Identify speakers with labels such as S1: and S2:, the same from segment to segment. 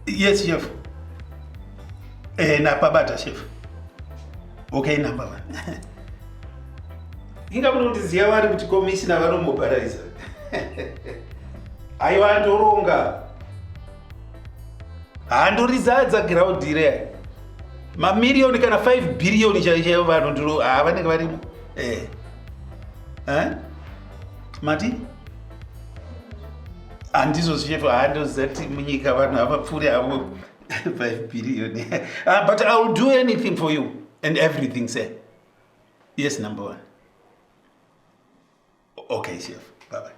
S1: Yes, chef. Eh, na pabata chef. Okay, number one. Inga munondiziva vari kuti komishina vanomobharaiza. Aiwa ndoronga. handorizadza ground ire mamirioni kana 5 bhiriyoni chaichaivo vanhu ndiro haa vanenge varimo eh. eh? mati handizvo zvichefu handozati munyika vanhu havapfuuri havo 5 bhiriyoni ah, but i will do anything for you and everything sir yes number one Okay, chef. Bye bye.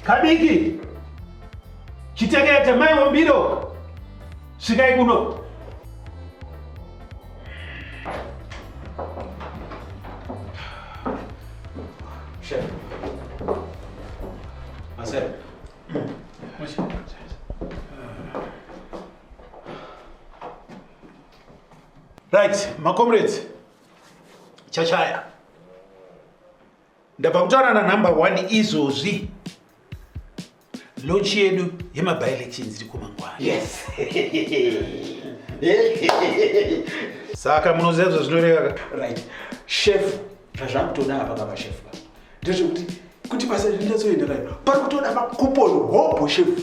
S1: Kabiki. Chitekete mai Wambiro. Sikai kuno. Chef. Marcel. Marcel. Right, makomrades, chachaya ndabva kutaura nanumber one izvozvi lochi yedu yemabilections iri kumangwana yes. saka munoziva zvazvinoreva right
S2: shefu zvazvakutoda apa kava shefu ka ndezvekuti kuti basa rinatsoenderana pari kutoda makupon hobho shefu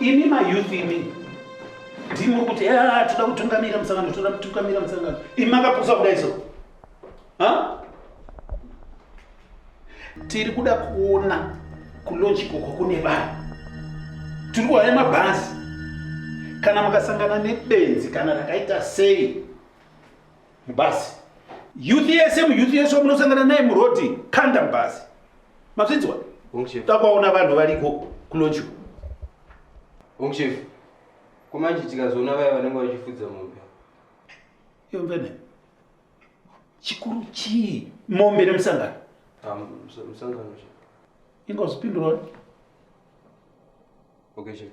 S1: imi mayouth imi ndimuri kuti ah, toda kutungamira musangano toda kutungamira musangano imi makapusa kudai so tiri kuda kuona kulonji koko kune vanhu tiri kuhaya mabhazi kana mukasangana nebenzi kana rakaita sei mubhazi youth yese muyouth yese wamunosangana naye murodi kanda mubhazi mazvinzwa takwaona vanhu variko kulonchu
S3: ongchef kumanje tikazoona vaya vanenge vachifudza mombe
S1: yombene chikuru chii mombe nemusangano ah,
S3: musangano ingozipinduroni okay chef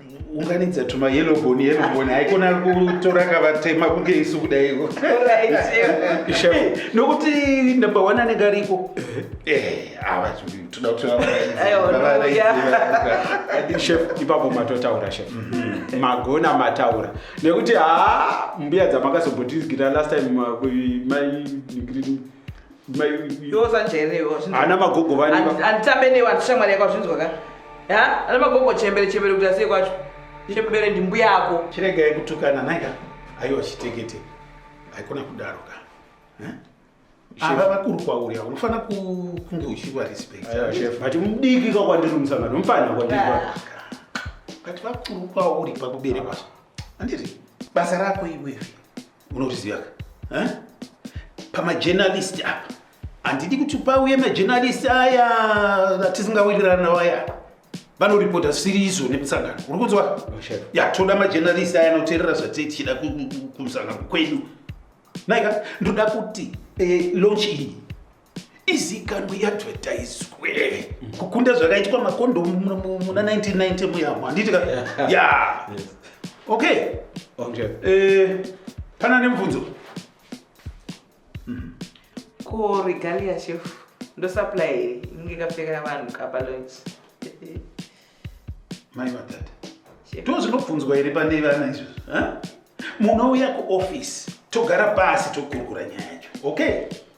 S1: unganidza tuma yellow bone yellow bone haikona kutora kavatema kunge isu kudaiko nokuti number one anenge ariko
S2: chef ipapo matotaura chef mhm. magona mataura nekuti haa mbuya dzamakazombotizigira last time mai
S4: ana magogo
S2: vanditambe newe andishamwari
S4: yako azvinzwa ka ana magogo chembere chembere kuti asiye kwacho chembere ndimbuya yako chirega yekutukana
S1: naika aiwa chitekete haikona kudaro ka ava vakuru kwauri avo unofanira kunge uchiva respectbut mudiki
S2: ka kwandiri musangano mufanira kwandiri but
S1: vakuru kwauri pakuberekwa andiri basa rako iwewe unozviziva ka eh? pamajenalisti apa handidi kuti pauye majenalisti aya atisingawirirana nawo aya vanoripota zvisiri izvo nemusangano uri kunzwa ya toda majenalisti aya anoteerera zvatei tichida kumusangano kwedu naika ndoda kuti eh, lonchi iyi izikanwe iadvertiswe kukunda zvakaitwa makondomu muna 1990 muyamo handiti ka ya okay eh, pana nemubvunzo mhm.
S4: ko regalia chef ndosupply here inenge kapfekera vanhu kapa lunch
S1: mai vatata ndo zvinobvunzwa here pane vana izvozvo munouya kuoffice togara pasi tokurukura nyaya yacho okay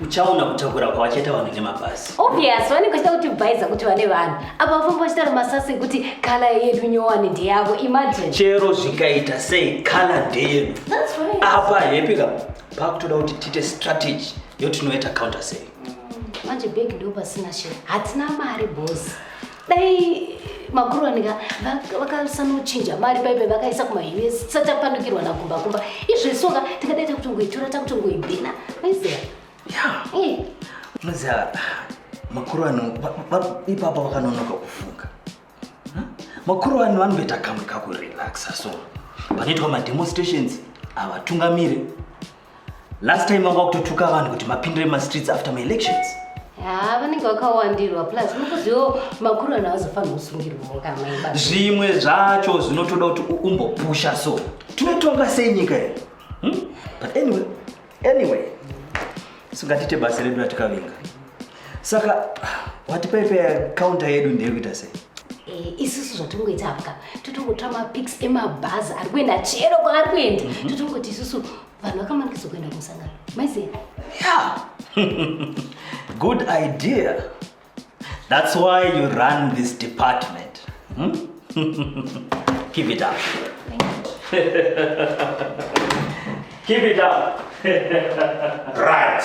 S5: uchaona kutakura kwavachaita vanhu nemabhazi obvious vanenge vachita
S6: kuti bhaiza kuti vane vanhu apa vafamba vachita nemasasi kuti kala yedu nyowani ndeyavo imagine chero zvikaita
S5: sei kala ndeyedu apa
S6: hepika
S5: pakutoda kuti tiite strategy yotinoita counter sei manje bhegi
S6: ndo pasina shero hatina mari bosi dai makuronika vakasanochinja mari paipe vakaisa kumahini satapandukirwa nakumbakumba izvesoka tingadai takutongoitora takutongoibhina maiziva eh.
S5: muziva makuru ano ipapa vakanonoka kufunga hm? makuru ano vanoita kamwe kakurelaxa so panoitwa mademonstrations havatungamiri Last time wanga kutotuka vanhu kuti mapindire ma streets after my elections. Ah, vanenge
S6: vakawandirwa plus mukuziwo makuru ana azofanira kusungirwa kama ibaba. Zvimwe zvacho
S5: zvinotoda kuti umbopusha so. Tinotonga sei nyika iyi? Hmm? But anyway, anyway. Sungatiite basa redu ratikavinga. saka wati paipe counter yedu ndiri kuita sei Eh, isusu
S6: zvatongoita apa totongotora mapics emabhazi ari kuenda chero kwaari kuenda mhm. totongoti isusu vanhu vakamanikidzwa kuenda kumusangano maiziva yeah.
S5: good idea that's why you run this department hmm? keep it up keep it up
S1: right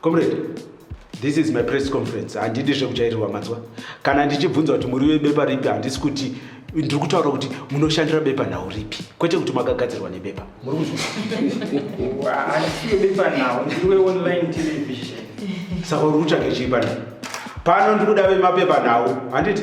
S2: comrade this is my press conference handidi zvekujairirwa manzwa kana ndichibvunza kuti muri webepa ripi handisi kuti ndiri kutaura kuti munoshandira bepa nhau ripi kwete kuti makagadzirwa nebepa
S7: saka uri
S2: kutsvage chii pana pano ndikuda vemapepa nhau handiti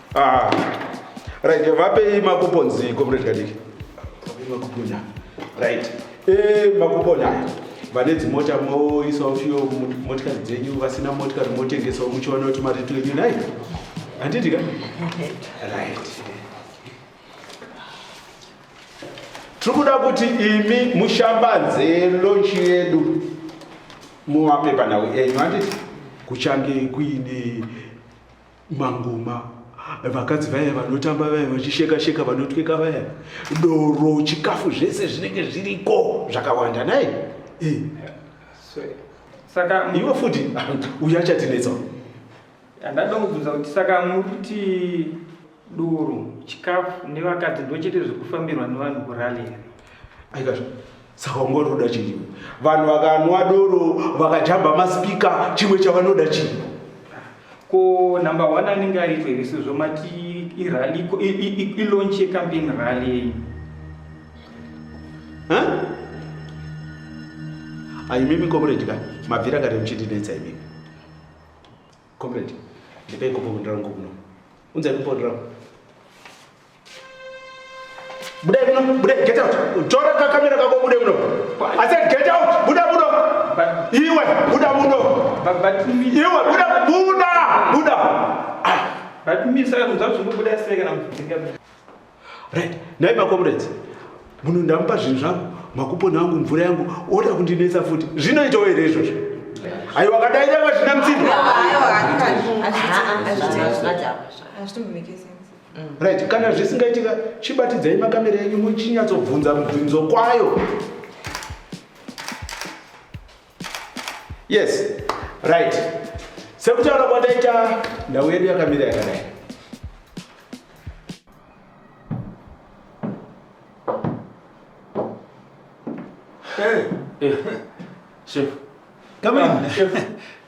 S2: Ah, right, vapei makuponzi comrade Kadiki. Vapei makuponya. Right. Eh, makuponya aya. Vane dzimota moisawo fiyo motikari dzenyu vasina motikari motengesawo muchiona kuti mari tuenyu nayo. Handiti ka? Right. Tiri kuda kuti imi mushambanze lonchi yedu muwape panhau enyu handiti kuchange kuine mangoma vakadzi vaya vanotamba vaya vachisheka sheka vanotweka vaya doro chikafu zvese zvinenge zviriko zvakawanda nai eh.
S7: saka iwe futi
S2: uya chatinetsa
S7: andada kubvunza kuti saka muri kuti doro chikafu nevakadzi ndochete zvekufambirwa nevanhu kurali here aikazvo
S2: saka unga uri kuda chii vanhu vakanwa doro vakajamba maspika chimwe chavanoda chii ko
S7: number one anenge aitwa here sezvo mati irally ilaunch yecampaign rally yenyu
S2: aimimi comrade ka mabvira kare muchindinetsa imimi comrade ndipei kopo kundirangu kuno unzai kupondirangu Bude muno, bude, get out. Tora kakamera kako bude muno. I said get out, buda muno. Iwe, buda muno. Iwe, buda,
S7: buda, buda. Ah. But
S2: me, sir, I'm not going to buda seka na
S7: mfutika.
S2: Right, nai ma comrades. Muno ndamupa zvinhu zvangu, makupona angu, mvura yangu, oda kundinetsa futi. Zvinoitawo here izvozvo? Ayo wakadai nyama zvina mtsinda. Ayo, ayo, ayo. Azvitombi make sense. right kana zvisingaitika chibatidzai makamera enyu muchinyatsobvunza mubvunzo kwayo yes right sekutaura kwandaita ndau yedu yakamira yakadai eh, eh,
S3: chef come in
S1: ah, chef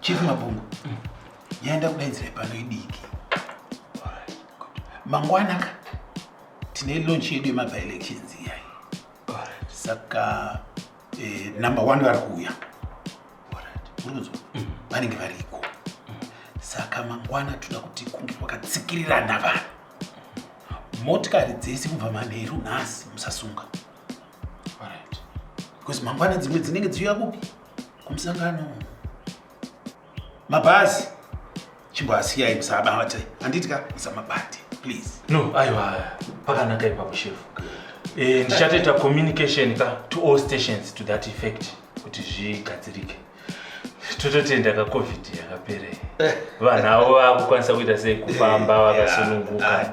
S1: chief mabungu yaenda kudaidzira pano idiki mangwana ka tine launch yedu yemabilections iyayi saka eh, number one vari kuuya urinzwa mm. vanenge variko mm. saka mangwana toda kuti kunge kwakatsikirirana vanhu motikari dzese kubva manheru nhasi musasunga bcause mangwana dzimwe dzinenge dziuya kupi kumusangano mabhazi chimboasiyai musabate handiti ka musamabate please no aiwa
S8: pakanaka ipapo shefu e, ndichatoita communication ka to all stations to that effect kuti zvigadzirike tototenda ka covid yakapere vanhu avo vakukwanisa kuita sei kufamba vakasununguka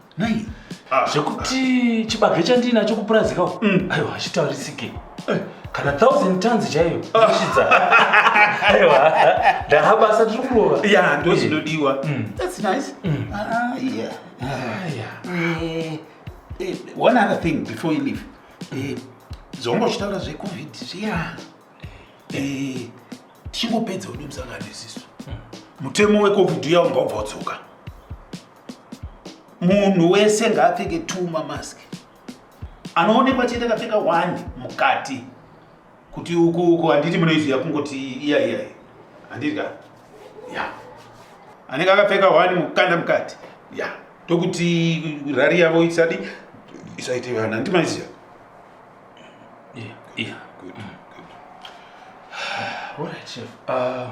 S8: Nei?
S1: Ah. Zvekuti
S8: chibage chandinacho kupurazika uko. Mm. Aiwa hachitaurisike. Eh, Kana thousand tons chaiyo. Ndashidza. Aiwa. Ndahabasa tiri kurova. Ya, ndo zvinodiwa.
S1: Mm. That's nice. Mm. Ah, yeah. Ah, yeah. Eh, eh, one other thing before you leave. Eh, zvongo chitaura zvecovid zviya Eh, tichingopedza ude musangano isisu mutemo wecovid uya unga ubva udzoka munhu wese ngaapfeke two mamask anoonekwa chete akapfeka one mukati kuti uku uku handiti munoiziva kungoti iya iya handiti ka ya anenge akapfeka one mukanda mukati ya tokuti rari yavo isadi isaite vana handiti maiziva yeah,
S8: yeah. good, mm. good. All right, Chef. Uh,